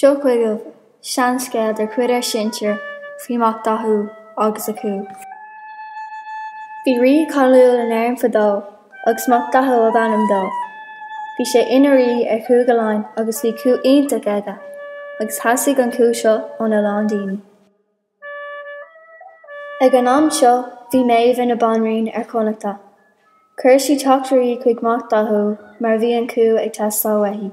Seo chugaibh seanscéal de chuid ár sinsir faoi Mac Dathó agus a chú. Bhí rí cáiliúil in Éirinn fadó agus Mac Dathó ab ainm dó. Bhí sé ina rí ar Chúige Laighean agus bhí cú iontach aige agus theastaigh an cú seo óna lán daoine. Ag an am seo, bhí Méabh ina banríon ar Chonnachta. Chuir sí teachtairí chuig Mac Dathó mar bhí an cú ag teastáil uaithi.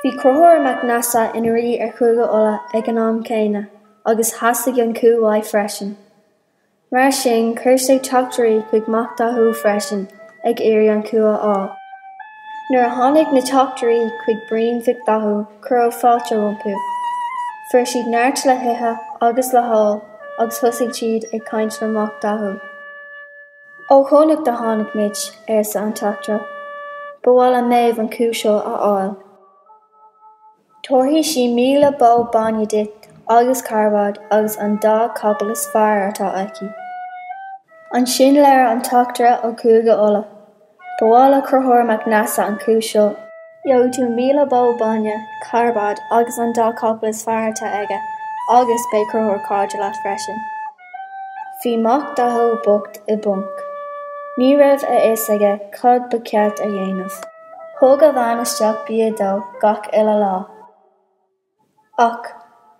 Bhí Conchúr Mac Neasa ina rí ar Chúige Uladh ag an am céanna agus theastaigh an cú uaidh freisin. Mar sin, chuir sé teachtairí chuig Mac Dathó freisin, ag iarraidh an cú a fháil. Nuair a tháinig na teachtairí chuig bruíon Mhic Dathó, cuireadh fáilte rompu. Fuair siad neart le hithe agus le hól agus thosaigh siad ag caint le Mac Dathó. Ó Chonnacht a tháinig muid, arsa an teachtaire. Ba mhaith le Méabh an cú seo a fháil. Tabharfaidh sí míle bó bainne duit agus carbad agus an dá capall is fearr atá aici. Ansin labhair an teachtaire ó Chúige Uladh, ba mhaith le Conchúr Mac Neasa an cú seo. Gheobhaidh tú míle bó bainne, carbad agus an dá capall is fearr atá aige agus beidh Conchúr cairde leat freisin. Bhí Mac Dathó bocht i bponc. Ní raibh a fhios aige cad ba cheart a dhéanamh. Thóg a bhean isteach bia dó gach uile lá. Ach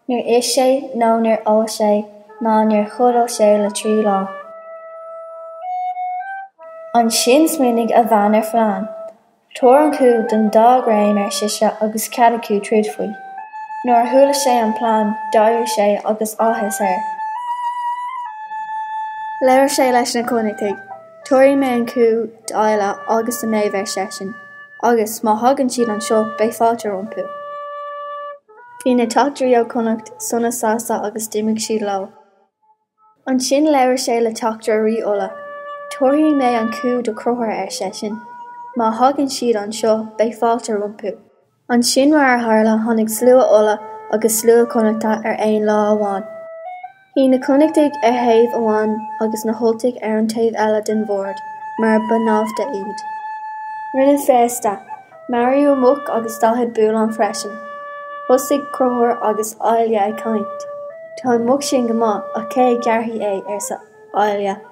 níor ith sé nó níor ól sé ná níor chodail sé le trí lá. Ansin smaoinigh a bhean ar phlean. Tabhair an cú don dá dhream, ar sise, agus cead acu troid faoi. Nuair a chuala sé an plean, d'éirigh sé agus áthas air. Labhair sé leis na Connachtaigh. Tabharfaidh mé an cú d'Ailill agus do Méabh, ar seisean, agus má thagann siad anseo beidh fáilte rompu. Bhí na teachtairí ó Chonnacht sona sásta agus d'imigh siad leo. Ansin labhair sé le teachtaire Rí Uladh. Tabharfaidh mé an cú do Chonchúr, ar seisean. Má thagann siad anseo beidh fáilte rompu. Ansin mar a tharla tháinig slua Uladh agus slua Connachta ar aon lá amháin. Shuigh na Connachtaigh ar thaobh amháin agus na hUltaigh ar an taobh eile den bhord mar ba naimhde iad. Rinneadh féasta. Maraíodh an muc agus daichead bullán freisin. Thosaigh Conchúr agus Ailill ag caint. Tá an muc sin go maith ach cé a ghearrfaidh é, arsa Ailill.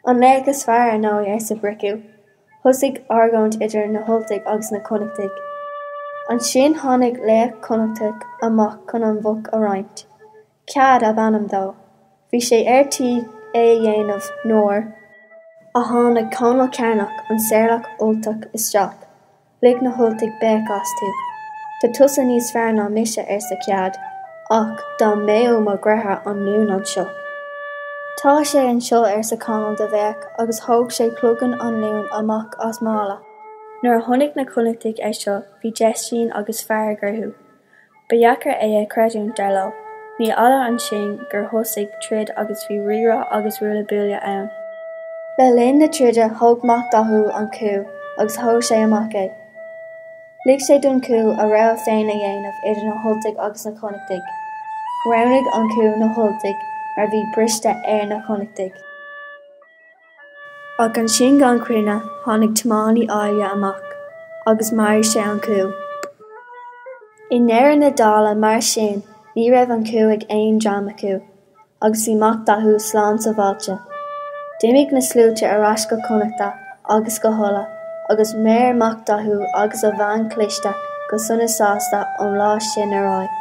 An laoch is fearr, ar ndóigh, arsa Bricriu. Thosaigh argóint idir na hUltaigh agus na Connachtaigh. Ansin tháinig laoch Connachtach amach chun an mhuc a roinnt. Cead ab ainm dó. Bhí sé ar tí é a dhéanamh nuair a tháinig Conall Cearnach, an sárlaoch Ultach, isteach. Lig na hUltaigh béic astu. Tá tusa níos fearr ná mise, arsa Cead, ach dá mbeadh mo dheartháir Anluan anseo. Tá sé anseo, arsa Conall de bhéic agus thóg sé cloigeann Anluain amach as mála. Nuair a chonaic na Connachtaigh é seo bhí deistín agus fearg orthu. Ba dheacair é a chreidiúint, dar leo. Ní fhada ansin gur thosaigh troid agus bhí rírá agus ruaille buaille ann. Le linn na troide thóg Mac Dathó an cú agus thóg sé amach é. Lig sé don chú a rogha féin a dhéanamh idir na hUltaigh agus na Connachtaigh. Roghnaigh an cú na hUltaigh mar bhí briste ar na Connachtaigh. Ach ansin gan choinne tháinig tiománaí Ailill amach agus mharaigh sé an cú. I ndeireadh na dála, mar sin, ní raibh an cú ag aon dream acu agus bhí Mac Dathó slán sabháilte. D'imigh na sluaite ar ais go Connachta agus go hUladh agus mhair Mac Dathó agus a bhean chliste go sona sásta ón lá sin ar aghaidh.